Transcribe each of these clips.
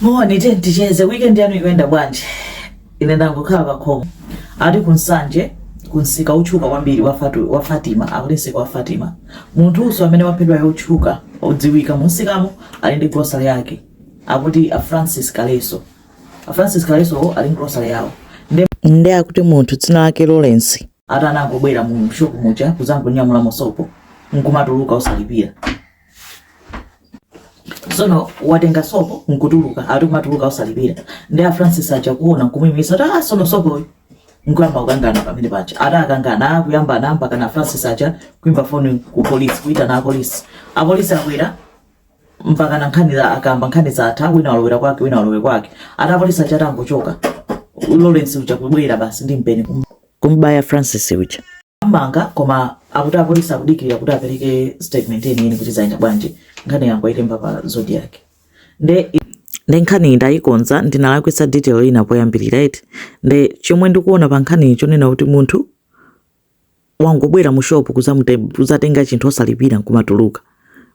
Moni tiyeni ticheze weekend yanu ikuyenda bwanji? Ine ndangokhala pa khomo. Ati ku Nsanje ku msika wotchuka kwambiri wa, Fatu, wa Fatima akuti msika wa Fatima. Munthunso amene waphedwa yotchuka odziwika mu msikamo ali ndi grocery yake akuti a Francis Kaleso. A Francis Kaleso wo ali ndi grocery yawo. Nde nde akuti munthu dzina lake Lawrence ati anangobwera mu shop muja kuzangonyamulamo sopo nkumatuluka osalipira. tsono watenga sopo nkutuluka ati kumatuluka osalipira nde a francis aja kuona nkumuyimisa kuti ah sono sopoyo nkuyamba kukangana pamene paja ati akangana akuyamba anamba kana francis aja kuimba foni ku polisi kuitana apolisi apolisi abwera mpaka na nkhanizo akamba nkhanizo zatha wina walowera kwake wina walowera kwake ati apolisi aja atangochoka lawrence uja kubwera basi ndi mpeni kum- kumbaya francis uja am'manga koma akuti apolisi akudikirira kuti apereke statement yeniyeni kuti zayenda bwanji nkhaniyo angoyilemba pa zodiac nde nde nkhani ndayikonza ndinalakwitsa detail ina poyambirira eti nde chomwe ndikuona pa nkhaniyi chonena kuti munthu wangobwera mu shop kuzatenga chinthu osalipira nkumatuluka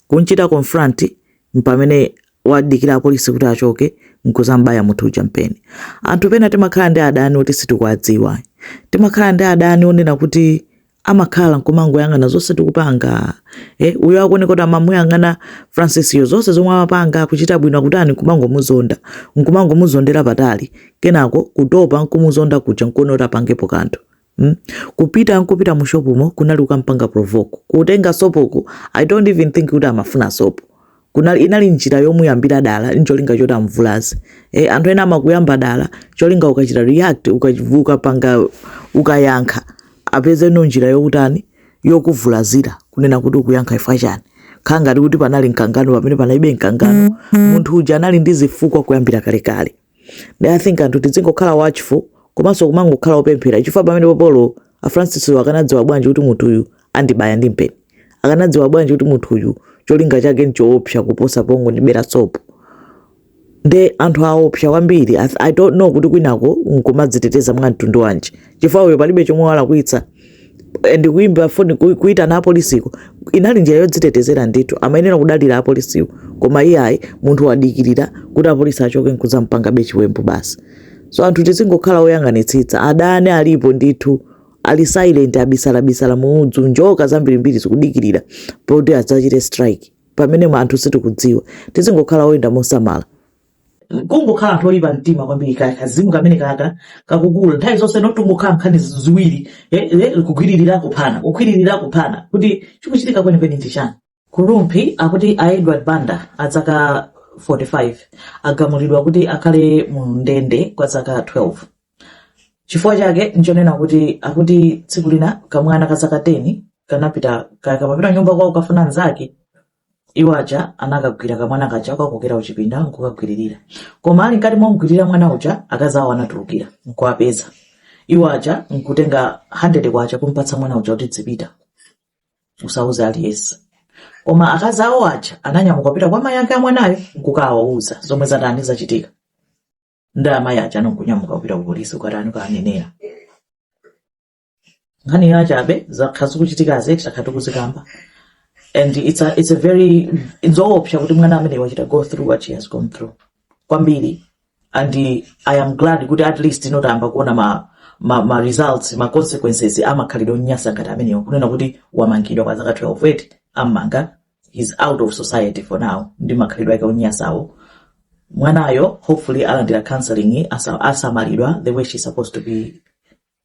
kunchita confront mpamene wadikira apolisi kuti achoke n'kudzam'baya munthu uja mpeni. Anthu pena timakhala ndi adani oti sitikuwadziwa. Timakhala ndi adani onena kuti amakhala nkumangoyang'ana zonse tikupanga eh, uyo akuoneka kuti amamuyang'ana Francisyo zonse zomwe amapanga akuchita bwino akutani nkumangomuzonda nkumangomuzondera patali kenako kutopa nkumuzonda kuja nkuona kuti apangepo kanthu Hmm? kupita nkupita mu shop mo kunali kukampanga provoke kutenga sopoku i don't even think kuti amafuna sopo kunali inali njira yomuyambira dala ncholinga choti amvulaze e, anthu ena amakuyamba dala cholinga ukachita react ukachi- ukapanga ukayankha apezeno njira yokutani yokuvulazira kunena kuti ukuyankha chifukwa chani nkhala ngati kuti panali mkangano pamene panalibe mkangano mm-hmm. munthu uja anali ndi zifukwa kuyambira kalekale kale. nde i think anthu tidzingokhala watchful komanso kumangokhala opemphera chifukwa pamenepopo a francis akanadziwa bwanji kuti munthu uyu andibaya ndi mpeni akanadziwa bwanji kuti munthu uyu cholinga chake nchoopsa kuposa pongondibera sopo nde anthu aopsa kwambiri I, i don't know kuti kwinako nkumadziteteza mwa mtundu wanji chifukwa uyo palibe chomwe walakwitsa and kuimba foni kuitana apolisiko inali njira yodzitetezera ndithu amayenera kudalira apolisiwo koma iyayi munthu wadikirira kuti apolisi achoke nkuzampangabe chiwembu basi so anthu tizingokhala oyang'anitsitsa adani alipo ndithu ali silent abisala muudzu njoka zambirimbiri zikudikirira poti adzachite strike pamene anthu sitikudziwa tizingokhala oyenda mosamala kungokhala anthu oyipa mtima kwambiri ka kazimu kamene kaka kakukula nthawi zonse kumangokhala nkhani ziwiri eh, eh, kugwiririra kuphana kugwiririra kuphana kuti chikuchitika kwenikweni ndi chani ku Rumphi akuti a edward banda a zaka 45 agamulidwa kuti akhale mu ndende kwa zaka 12 chifukwa chake nchonena kuti akuti tsiku lina kamwana ka zaka 10 kanapita ka- kamapita kunyumba kwawo kafuna mnzake Iwo aja anakagwira kamwana kaja kakokera kuchipinda nkukagwiririra. Koma ali mkati momgwirira mwana uja, akazi awo anatulukira nkuwapeza. Iwo aja nkutenga 100 kwacha kumpatsa mwana uja kuti dzipita, usauze aliyense. Koma akazi awo aja ananyamuka kupita kwa mayi ake a mwanayo nkukawauza zomwe zatani zachitika. Nde amayi aja anangonyamuka kupita ku polisi kukatani kukanenera. nkhani yachabe zakhala zikuchitikazi takhala tikuzikamba and it's a, it's a very nzoopsa kuti mwana amene wachita go through what she has gone through kwambiri and i am glad kuti at least ino tayamba kuona ma, ma, ma results ma consequences amakhalidwe onyansa ngati amenewo kunena kuti wamangidwa kwa zaka 12 eti ammanga he's out of society for now ndi makhalidwe ake onyansawo mwanayo hopefully alandira counseling asa- asamalidwa the way she's supposed to be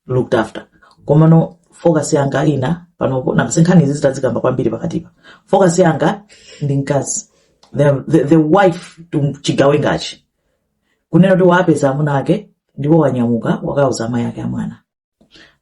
looked after komano focus yanga ina panopo nanga sinkhani izi zitazikamba kwambiri pakatipa focus yanga ndi mkazi the, the, the wife to chigawengachi kunena kuti wapeza amuna ake ndipo wanyamuka wakauza amayi ake amwana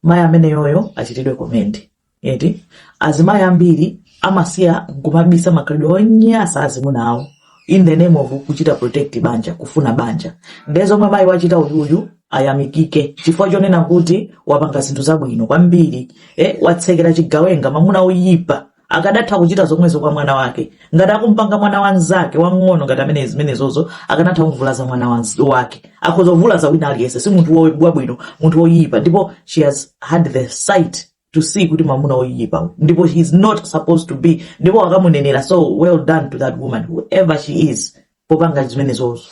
mayi ameneyoyo achitidwe commend eti azimayi ambiri amasiya nkumabisa makhalidwe onyansa azimuna awo in the name of kuchita protect banja kufuna banja nde zomwe mayi wachita uyuyu ayamikike chifukwa chonena kuti wapanga zinthu zabwino kwambiri eh, watsekera chigawenga mamuna oyipa akadatha kuchita zomwezo kwa mwana wake ngati akumpanga mwana wa anzake wang'ono ngati amene zimenezozo akanatha kumvulaza mwana wanz- wake akhoza kuvulaza wina aliyense si munthu wo- wabwino munthu woyipa ndipo she has had the sight to see kuti mamuna oyipa ndipo he's not supposed to be ndipo wakamunenera so well done to that woman whoever she is popanga zimenezozo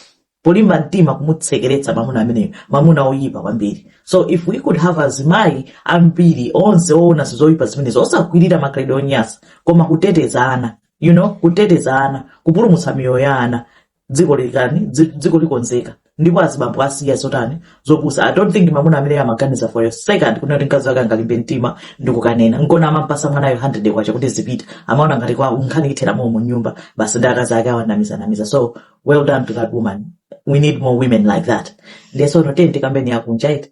polimba mtima kumutsekeretsa mamuna ameneyo mamuna oyipa kwambiri so if we could have azimayi ambiri onse oona zoyipa zimenezo osagwirira makhalidwe onyansa koma kuteteza ana you know kuteteza ana kupulumutsa miyoyo ya ana dziko likani dzi- dziko likonzeka ndipo azibambo asiya zotani zopusa i don't think mamuna amene amaganiza for a second kunena kuti mkazi wake angalimbe mtima ndikukanena nkona amampatsa mwanayo 100 kwacha kuti dzipita amaona ngati kwa nkhani ithera momwemo mu nyumba basi ndi akazi ake awanamizanamiza so well done to that woman we need more women like that ndiye sono tiyeni tikambeni yakunja iti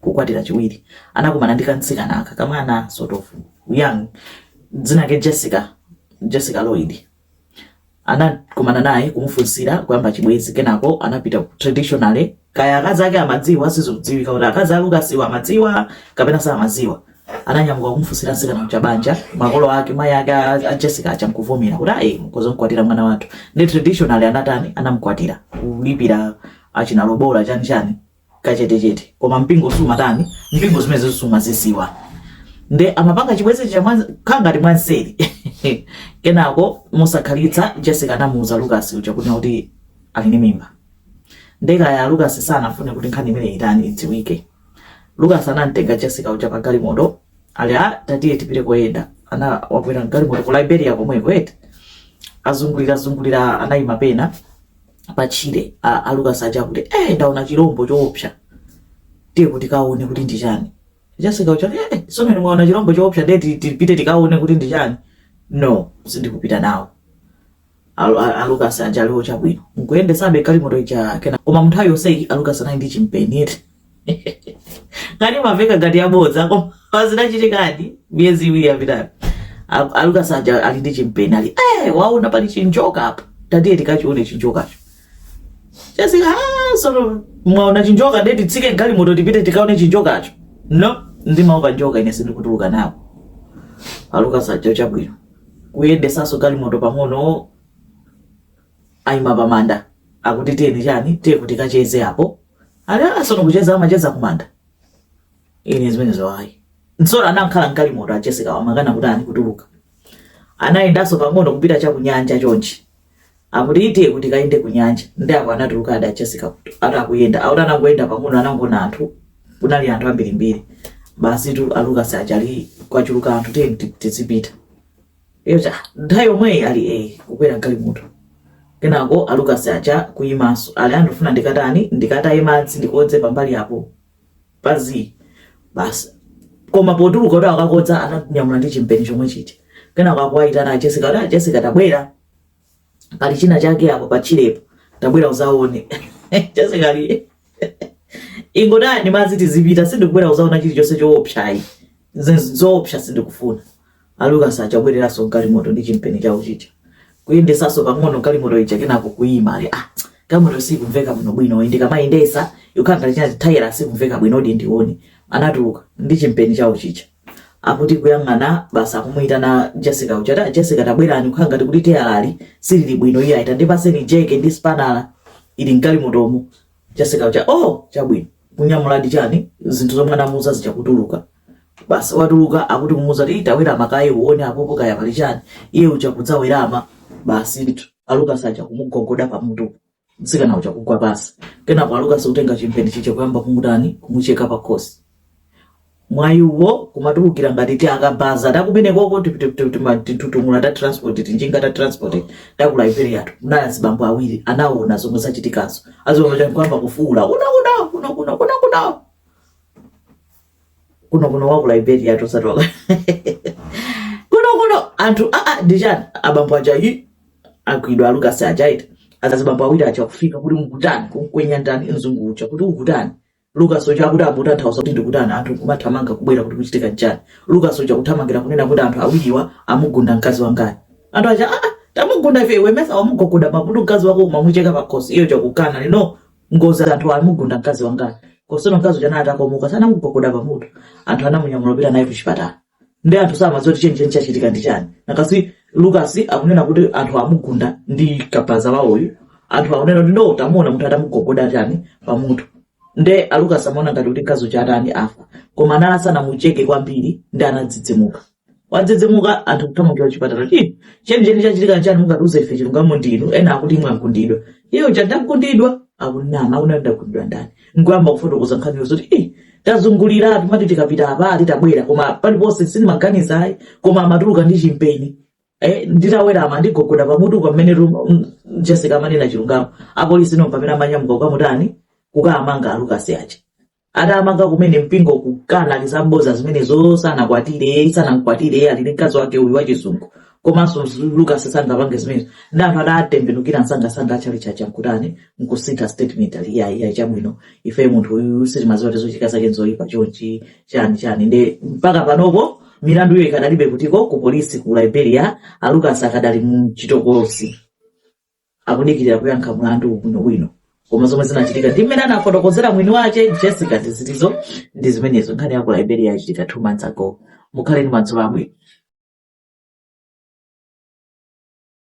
kukwatira chiwiri anakumana ndi kamtsikana aka kamwana sort of young dzina lake Jessica Jessica Lloyd anakumana naye kumufunsira kuyamba chibwezi kenako anapita ku traditionally kaya akazi ake amadziwa sizodziwika kuti akazi a Lucas-wo amadziwa kapena samadziwa ananyamuka kumufunsira mtsikana uja banja makolo ake mayi ake a a Jessica aja nkuvomera kuti ayi mkhoza mkwatira mwana wathu ndi traditionally anatani anamkwatira kulipira achina lobola chani chani kachetechete koma mpingo sumatani mpingo zimenezo sumazidziwa nde amapanga chibwezi chakangati mwanseri kenako mosakhalitsa jessica anamuuza lucas uja kuti kuti ali ndi mimba nde kaya lucas sanafune kuti nkhani imeneyi itani idziwike lucas anamtenga jessica uja pa galimoto ali a tatiye tipite koyenda nde akwera mgalimoto ku liberia komweko eti azungulirazungulira anayima pena patchire a, a Lucas aja kuti eh ndaona chilombo choopsa tiyeko tikaone kuti ndi chani Jessica uja eh sono mmene mwaona chilombo choopsa ndiye ti- tipite tikaone kuti ndi chani no sindikupita nawo Alu- a- a Lucas aja ali oh chabwino nkuyendesabe galimoto ija kenako ma munthawi yonseyi a Lucas anali ndi chimpeni eti ngati maveka ngati yabodza koma pazinachitikadi miyezi iwiri yapitayi A- a Lucas aja ali ndi chimpeni ali eh waona pali chinjoka apa tatiye tikachione chinjokacho Jessica ah, sono mwaona chinjoka ndiye titsike galimoto tipite tikaone chinjokacho no ndimaopa njoka ine sindikutuluka nawo a Lucas aja chabwino kuyendesaso galimoto pang'ono ayima pamanda akuti tiyeni chani tiyeko tikacheze apo Ali ah sono kucheza amacheza kumanda. Ine zimenezo ayi. So a anakhala mgalimoto a Jessica-wo amakana kutani kutuluka. Anayendanso pang'ono kupita cha kunyanja chonchi. Akuti tiyeko tikayende kunyanja. Ndi apo anatuluka a a Jessica kuti atakayenda. Akuti anangoyenda pang'ono anangoona anthu. Kunali anthu ambirimbiri. Basitu a Lucas aja ali kwachuluka anthu tiyeni ti- tizipita. Eh ocha nthawi yomweyi ali eh kukwera galimoto kenako a Lucas aja kuyimanso ali ah ndifuna ndikatani ndikataye madzi ndikodze pambali apo pazi basi koma potuluka kuti akakodze ananyamula ndi chimpeni chomwe chija kenako akuwayitana a Jessica kuti a Jessica tabwera pali china chake apo patchirepo tabwera uzaone Jessica ali ingotayani madzi tizipita sindikubwera kuzaona chilichonse choopsayi zoopsa sindikufuna a Lucas aja abwereranso mgalimoto ndi chimpeni chawo chija kuyendesanso pang'ono galimoto ija kenako kuima ali ah galimoto sikumveka bwino bwino ndikamayendesa ikukhala ngati china tayala sikumveka bwino odi ndione anatuluka ndi chimpeni chawo chija akuti kuyang'ana basi akumuyitana Jessica uja ta Jessica tabwerani kukhala ngati kuti teyalali silili bwino iye ati ndipaseni jeke ndi sipanala ili mgalimotomo Jessica uja oh chabwino kunyamula ndi chani zinthu zomwe anamuuza zija kutuluka basi watuluka akuti kumuuza kuti tawerama kaye uone apopo kaya pali chani iye uja kudzawerama basi ndithu a Lucas aja kumugogoda pamutu Mtsikana uja kugwa pansi, kenako a Lucas kutenga chimpeni chija kuyamba kumutani kumucheka pakhosi. Mwayi uwo kumatulukira ngati ti akabaza takumeneko timitutumula ta transport tinjinga ta transport ta ku Liberia tu munali azibambo awiri anaona zomwe zachitikazo azibambo aja nkuyamba kufuwula kuna kuna kuna kuna kuna kuna kuno kuno wa ku Liberia tosatoka kuno kuno anthu aa ah, ah, ndichani abambo aja yi agwidwa a Lucas aja ndi azibambo awiri aja kufika kuti mukutani kumkwenya ndani mzungu uja kuti ukutani Lucas uja kuti aa bwanji ukufunsa zoti ndikutani anthu kumathamanga kubwera kuti kukuchitika nchani Lucas uja kuthamangira kunena kuti anthu awiriwa amugunda mkazi wangayo anthu aja aa ah, tamugunda ife iwe mesa wamugogoda pamutu mkazi wako umamucheka pakhosi iwo uja kukana ali no Ngozi anthu amugunda mkazi wangayo. Kosono mkazi uja anali atakomoka si anamugogoda pamutu. Anthu anamunyamula kupita naye kuchipatala. Nde anthu samadziwa kuti chenicheni chachitika ndi chani. Because Lucas akunena kuti anthu amugunda ndi kabaza wawoyu. Anthu akunena kuti no tamuona munthu atamugogoda chani pamutu. Nde a Lucas amaona ngati kuti mkazi uja atani afa. Koma anali asanamucheke kwambiri nde anadzidzimuka. wadzidzimuka anthu kuthamangira kuchipatala ti chenicheni chachitika chani mungatiuze ife chilungamo ndinu ena akuti inu mwagundidwa iye uja ndagundidwa akunama akunena ndagundidwa ndani nkuyamba kufotokoza nkhaniyo zoti i tazungulira timati tikapita apa titabwera koma paliponse sindimaganiza ayi koma amatuluka ndi chimpeni Eh, nditawerama anandigogoda pamutu pamene jessica amanena chilungamo apolisi ndi pamene amanyamuka kukamutani kukamanga a Lucas aja adamanga kumene mpingo kukana ali zabodza zimenezo sanakwatire sanamkwatire ali ndi mkazi wake uyu wachizungu komanso lucas sangapange zimenezo nde anthu adatembenukira msangasanga achalichi aja nkutani nkusintha statement ali ya ya chabwino ife munthu uyu sitimaziwa kuti zochita zake nzoyipa chonchi chani chani nde mpaka panopo milandu iyo ikadalibe kutiko ku polisi ku liberia a lucas akadali mu chitokosi akudikirira kuyankha mlandu bwinobwino koma zomwe zinachitika ndi mmene anafotokozera mwini wache jessica ndi zimenezo ndi zimenezo nkhani ya ku liberia yachitika two months ago mukhale ndi madzulo abwino